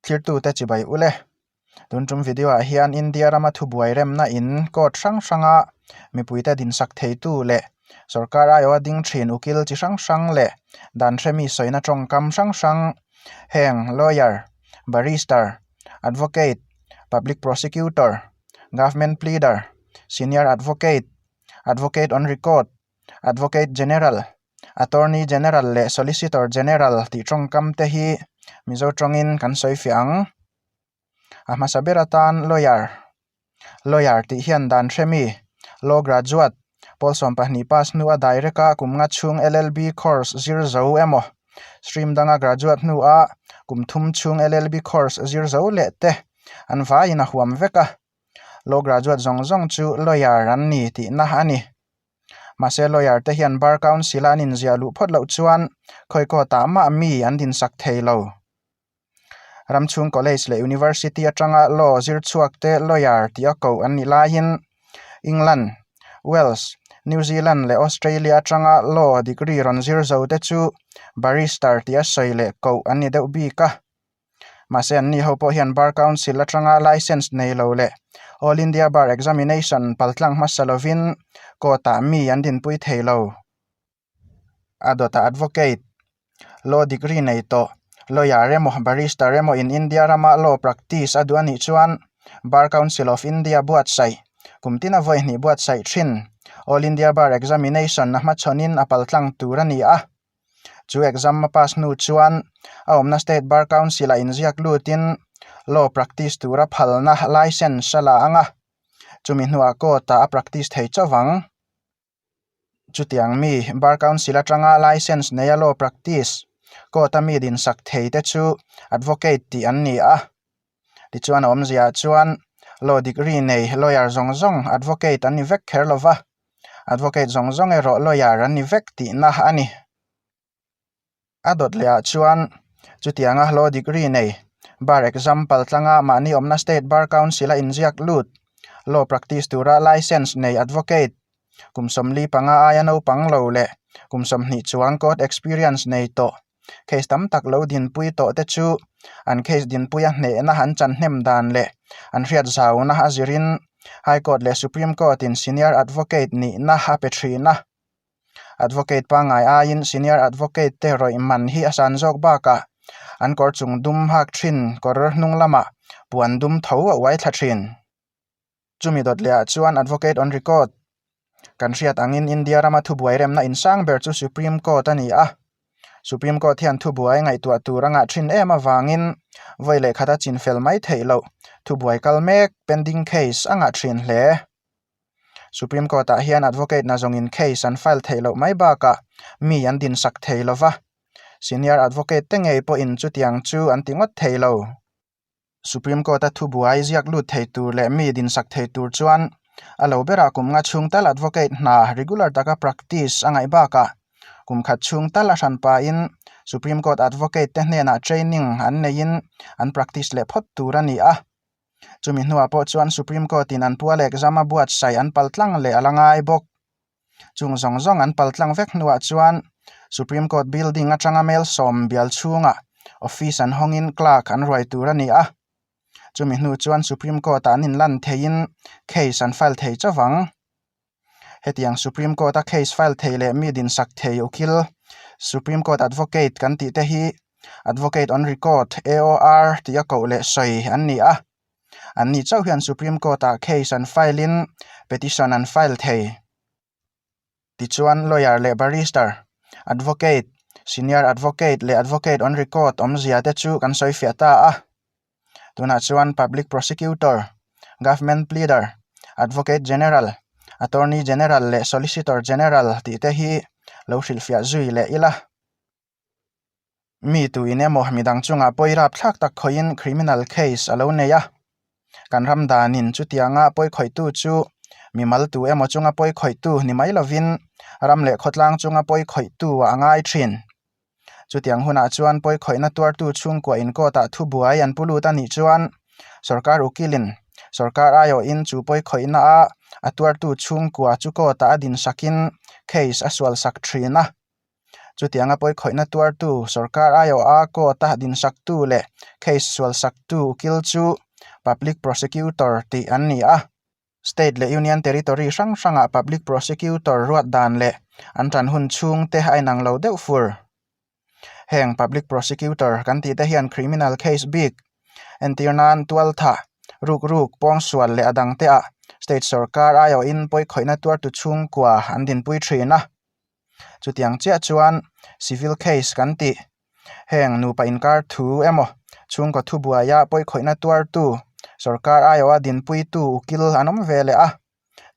Thirtute chibai u le. Tun tum video ah hian India rama thubuai remna in court hrang hrang a mipui te din sak thei tu leh sorkar aio a ding thin ukil chi hrang hrang leh dan hre mi sawina tawngkam hrang hrang heng lawyer, barrister, advocate, public prosecutor, government pleader, senior advocate, advocate on record, advocate general, Attorney General leh Solicitor General tih tawngkam te hi Mizo tawngin kan sawi fiah ang. A hmasa ber atan Lawyer, Lawyer tih hian dan hre mi, Law Graduate, Pawl sawm pahnih pass hnua Direct a kum nga chhung LLB Course zir zo emaw Stream danga Graduate hnua kum thum chhung LLB Course zir zo leh te an vaiin a huam vek a. Law Graduate zawng zawng chu Lawyer an ni tihna a ni. Mahse, lawyer te hian Bar Council a an inziah luh phawt loh chuan khawi court ah mah mi an dinsak thei lo. Ramchhung College leh University atanga law zirchhuak te lawyer tih a ko an nih laiin England, Wales, New Zealand leh Australia atanga law degree rawn zir zo te chu barrister tih a sawi leh ko an ni deuh bik a. Mahse an ni ho pawh hian Bar Council atanga Licence nei lo leh All India Bar Examination pal tlang hmasa lovin Court ah mi an dinpui thei lo a dawtah Advocate, Law Degree nei tawh, Lawyer emaw Barrister emaw in India rama Law Practice a duh a nih chuan Bar Council of India buatsaih kum tina vawi hnih buatsaih thin All India Bar Examination a hmachhawn in a pal tlang tur a ni a. Chu exam a pass hnu chuan a awmna State Bar Council a inziak lutin law practice tura phalna licence a la ang a, chumi hnuah court ah a practice thei chauh vang. Chutiang mi Bar Council atanga licence neia law practice court a mi dinsak thei te chu advocate tih an ni a. tichuan a awmzia ah chuan law degree nei lawyer zawng zawng advocate an ni vek kher lo va, advocate zawng zawng erawh lawyer an ni vek tihna a ni. A dawt leh ah chuan chutiang a law degree nei bar exam pal tlang a mahni awmna state bar council a inziak lut, law practice tura licence nei advocate Kum sawmli panga aia naupang lo leh kum sawmhnih chuang court experience nei tawh case tam tak lo dinpui tawh te chu an case dinpuia hnehna han chanhnem dan leh an hriat zauna a zirin High Court leh Supreme Court in Senior Advocate nihna a pe thin a. Advocate pangngai aiin Senior Advocate te rawih man hi a san zawk bakah an kawr chung dum hak thin kawr hnung lamah puan dum tho a uai thla thin. Chumi dawt leh ah chuan Advocate on record kan hriat angin India rama thubuai remna insang ber chu Supreme Court a ni a. Supreme Court hian thubuai ngaihtuah tur a ngah thin em avangin vawi leh khata chin fel mai theih loh thubuai kal mek pending case a ngah thin hle. Supreme Court ah hian Advocate na zawngin case an file theih loh mai bakah mi an din sak thei lova. Senior Advocate te ngei pawhin chutiang chu an ti ngawt thei lo. Supreme Court-a thu buai ziak lut thei tur leh mi dinsak thei tur chuan a lo berah kum nga chhung tal advocate hna regular taka practice a ngaih bakah kum khat chhung tal a hran pahin Supreme Court advocate te hnenah training an neihin an practice leh phawt tur a ni a. Chumi hnuah pawh chuan Supreme Court-in an pual exam-a buatsaih an palh tlang leh a la ngai bawk. Chung zawng zawng an pal tlang vek hnuah chuan Supreme Court Building atanga Melsawm bial chhunga office an hawngin clerk an ruai tur a ni a. Chumi hnu chuan Supreme Court-ah an inlan theihin case an file thei chauh vang. Hetiang Supreme Court-a case file thei leh mi dinsak thei ukil Supreme Court Advocate kan tih te hi Advocate on Record, AOR, tih a koh leh sawi an ni a. an nih chauh hian Supreme Court ah case an file in petition an file thei tichuan lawyer leh barrister, advocate, senior advocate leh advocate on record awmzia te chu kan sawifiah ta a. Tunah chuan public prosecutor, government pleader, advocate general, attorney general leh solicitor general tih te hi lo hrilhfiah zui leh ila. mi tuin emaw midang chungah pawi rap thlak tak khawin criminal case a lo nei a. Kan ram danin chutianga pawi khawihtu chu mi maltu emaw chunga pawi khawihtu ni mai lovin ram leh khawtlang chunga pawi khawihtu-a a ngai thin. Chutiang hunah chuan pawi khawihna tuartu chhungkuain court-ah thubuai an pu lut a nih chuan sorkar ukilin sorkar aiawhin chu pawi khawihna-a a tuartu chhungkua chu court-ah a dinsakin case a sualsak thin a. Chutianga pawikhawihna tuartu sorkar aiawha court a dinhraktu leh case sualsaktu ukil chu Public Prosecutor tih an ni a. State leh Union Territory hrang hrangah Public Prosecutor ruat dan leh an ṭan hun chhungte a inang lo deuh fur. Heng Public Prosecutor kan tih te hian criminal case bik entir nan tualtha, rukruk, pawngsual leh a dangteah state sorkar aiawhin pawikhawihna tuartu chhungkua an dinpui ṭhin a. Chutiang chiah chuan civil case kan tih heng nupa inkar thu emaw, chhungkaw thubuaia pawikhawihna tuartu, sorkar aioa dinpuitu ukil an awm ve leh a.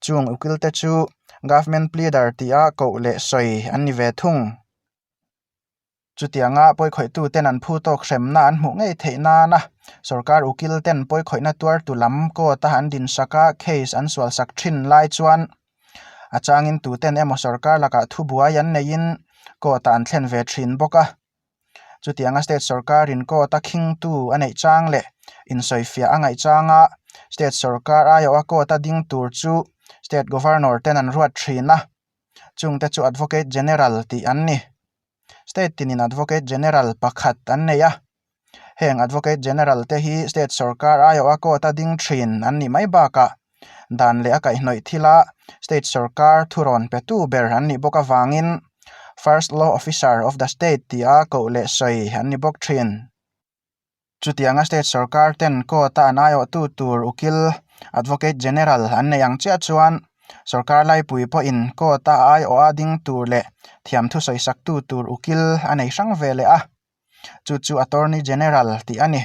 Chung ukilte chu government pleader tia koh leh sawi an ni ve thung. Chutianga pawikhawihtu ten an phu tawk hremna an hmuh ngei theih nan a sorkar ukil ten pawikhawihna tuartu lam court a an din sak a case an sual sak thin lai chuan a changin tuten emaw sorkar lakah thu buai an nei in court ah an thlen ve thin bawk a. Chutianga state sorkar in court a khing tu a neih chang leh insawi fiah a ngaih chang a state sorkar aiawh a court a ding tur chu state governor ten an ruat thin a chungte chu advocate general tih an ni. State tinin Advocate General pakhat an nei a. Heng Advocate General te hi State sorkar aiawha court a ding thin an nih mai bakah dan leh a kaihhnawih thila State sorkar thurawn petu ber an nih bawk avangin First Law Officer of the State tia koh leh sawi an ni bawk thin. Chutianga state sorkar ten court a an aiawhtu tur ukil, Advocate General, an nei ang chiah chuan sorkar laipui pawhin court a a aiawh a ding tur leh thiam thusawi saktu tur ukil a nei hrang ve leh a, chu chu Attorney General tih a ni.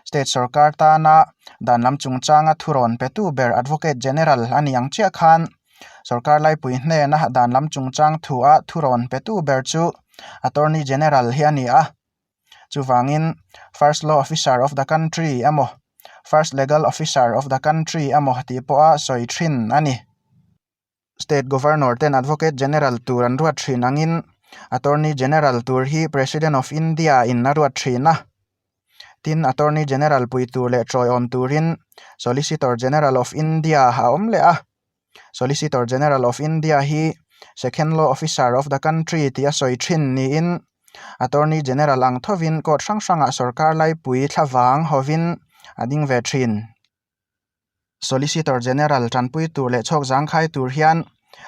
State sorkar tana dan lam chungchanga thu rawn petu ber Advocate General a ni ang chiah khan sorkar laipui hnena dan lam chungchang thu a thu rawn petu ber chu Attorney General hi a ni a. Chuvangin, First Law Officer of the Country emaw First Legal Officer of the Country emaw tih pawha sawi thin a ni. State Governor ten Advocate General tur an ruat thin angin, Attorney General tur hi President of India in a ruat thin a. Tin, Attorney General pui tur leh ṭawiawm turin Solicitor General of India a awm leh a. Solicitor General of India hi Second Law Officer of the Country tia sawi thin niin Attorney General ang thovin court hrang hrangah sorkar laipui thlavang hovin a ding ve thin. Solicitor General tanpui tur leh chhawk zang khai tur hian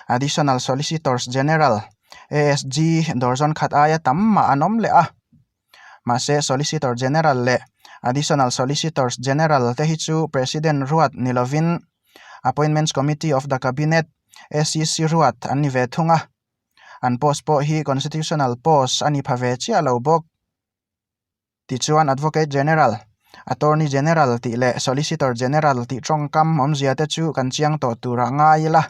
Additional Solicitors General, ASG, dawr zawn khat aia tam mah an awm leh a. Mahse, Solicitor General leh Additional Solicitors General te hi chu President ruat ni lovin Appointments Committee of the Cabinet, SCC, ruat an ni ve thung a. An post pawh hi constitutional post a ni pha ve chiah lo bawk. Tichuan, Advocate General, Attorney General tih leh Solicitor General tih tawngkam awmzia te chu kan chiang tawh turah ngai ila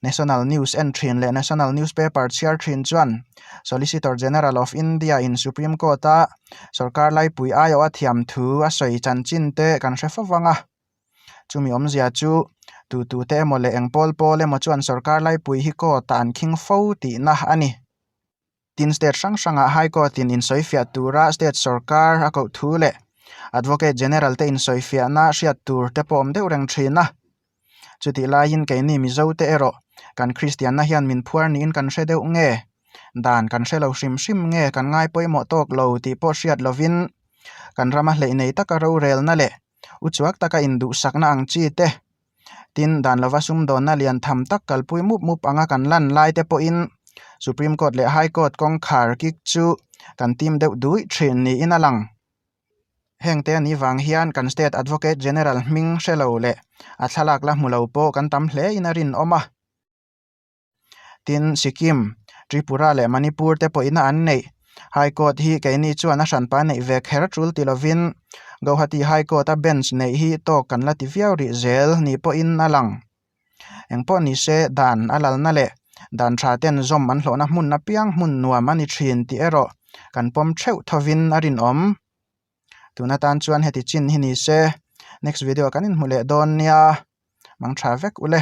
National News en thin leh National Newspaper chhiar thin chuan Solicitor General of India in Supreme Court a sawrkar laipui aiawh a thiam thu a sawi chanchin te kan hre fo vang a. Chumi awmzia chu tu tu te emaw leh engpawl pawl emaw chuan sawrkar laipui hi court-a an khing fo tihna a ni. tin state hrang hrangah High Court in insawifiah tura state sorkar a koh thu leh Advocate General te insawifiahna hriat tur te pawh awm deuh reng thin a. Chutih laiin keini Mizo te erawh kan Kristianna hian min phuar niin kan hre deuh nge? Dan kan hre lo hrim hrim nge? Kan ngai pawimawh tawk lo tih pawh hriat lovin kan rama hleih nei taka rorelna leh uchuak taka induhsakna ang chi te, Tin, dan lova sumdawnna lian tham tak kalpui mup mup anga kan lan laite pawhin Supreme Court leh High Court kawngkhar gig chu kan tim deuh duih thin niin a lang. Hengte a nih vang hian kan State Advocate General hming hre lo leh a thlalak la hmu lo pawh kan tam hlein a rinawm a. tin Sikkim, Tripura leh Manipur te pawhin a an neih. High Court hi keini chuan a hranpa neih ve kher ṭul ti lovin Guwahati High Court a bench neih hi tâwk kan la ti viau rih zel ni pawhin a lang. Engpawh ni se dan a lalna leh dan ṭha ten zawm an hlawhna hmun apiang hmun nuam a ni ṭhin tih erawh kan pawm ṭheuh thovin a rinawm. tuna tan chuan heti chin hi ni se next video ah kan inhmu leh dawn nia mangtha vek ule.